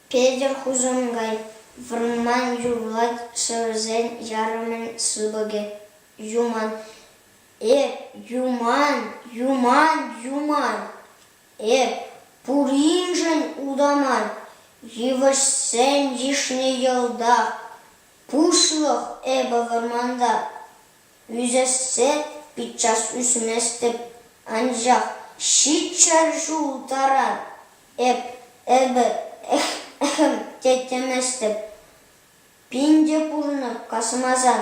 Петӗр хусан гай, вӑрман юрлать шӗвӗрсен ярӑмӗн сыпӑкӗ. Юман, э, юман, юман, юман, э, пуриншӗн утаман, йывӑҫсен йышне йӑлтах. Пуҫлӑх эпӗ вӑрманта ӳсессе пиччас ӳсместӗп, анчах ҫиччӗр ҫул таран эп эпӗ эх-эх те теместӗп. Пин те пурӑнӑп касмасан.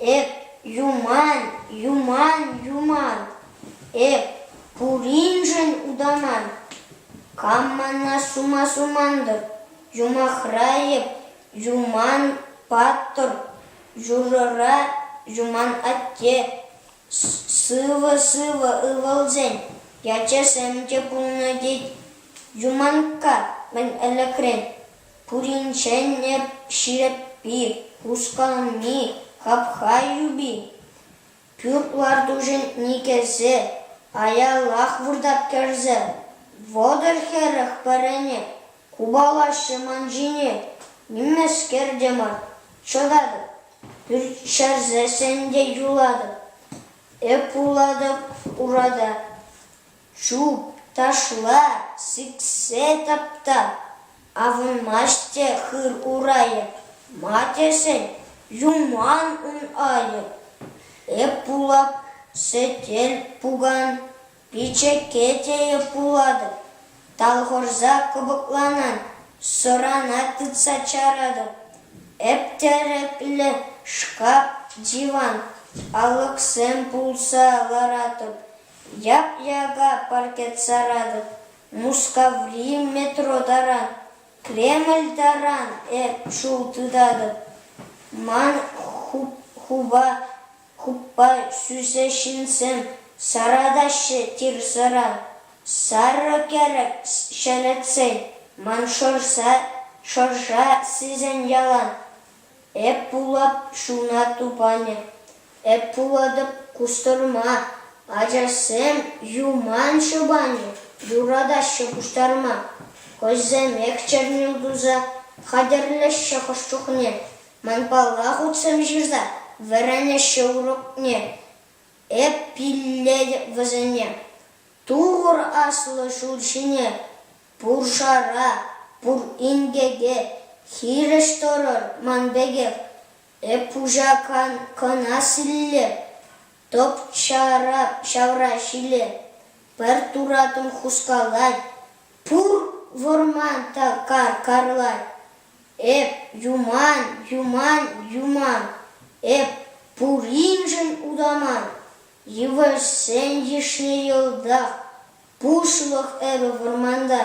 Эп юман, юман, юман, эп пуриншӗн утаман. Кам мана сума сумантӑр, юмахра эп юман паттӑр, юрӑра юман атте. Сывӑ-сывӑ ывӑлсен ячӗсем те пулнӑ тет Юманкка мӗн ӗлӗкрен. Пуринчен эп ҫирӗппи, хусканми, хапха юпи, пӳрт лартушӗн никӗсӗ, аялах выртать кӗрсе. Вӑтӑр хӗрӗх пӗрене, купалаҫҫӗ ман ҫине. Нимескер те мар, чӑтатӑп, пӳрт ҫӗрсе сен те юлатӑп, эп вулатӑп урада. Чупташла сиксе тапта, авӑнмасть те хыр урайӗ, ма тесен юман ун айӗ. Эп пулап сӗтел пукан, пичӗке теев пулатӑп, талхӑрса кӑпӑкланан, сӑрана тытса чаратӑп. Эп тӗреклӗ шкаф, диван, алӑксем пулса ларатӑп. Яп-яка паркет саратӑп, Мускаври метро таран, Кремль таран эп шыв тытатӑп. Ман хуппа сӳсе ҫынсем саратаҫҫӗ тир-сӑра. Сарӑ кӗрӗк ҫӗлетсен, Ман шӑрша сисен ялан. Эп пулап шуна тупанӗ, эп пулатӑп кустӑрма. Ачашсем юман шӑпани юратаҫҫӗ куҫтарма. Хӑйсемех чӗрнӗл туса хатӗрлеҫҫӗ хӑш чухне. Манпалла хутсем ҫырса вӗренеҫҫӗ урокне. Эп пиллетӗп вӗсене, Тур аслӑ ҫул ҫине Пуршара пур инке те хирӗҫ тӑрӑр ман пекех, эп пуҫа кӑна силле, тӑп-чара ҫавра ҫиле пӗр туратӑн хускалать, пур вӑрман та кар карлать. Эп юман, юман, юман, эп пуриншӗн утаман, йывӑҫсен йышне йӑлтах Пушӑлӑх эпӗ вӑрманта.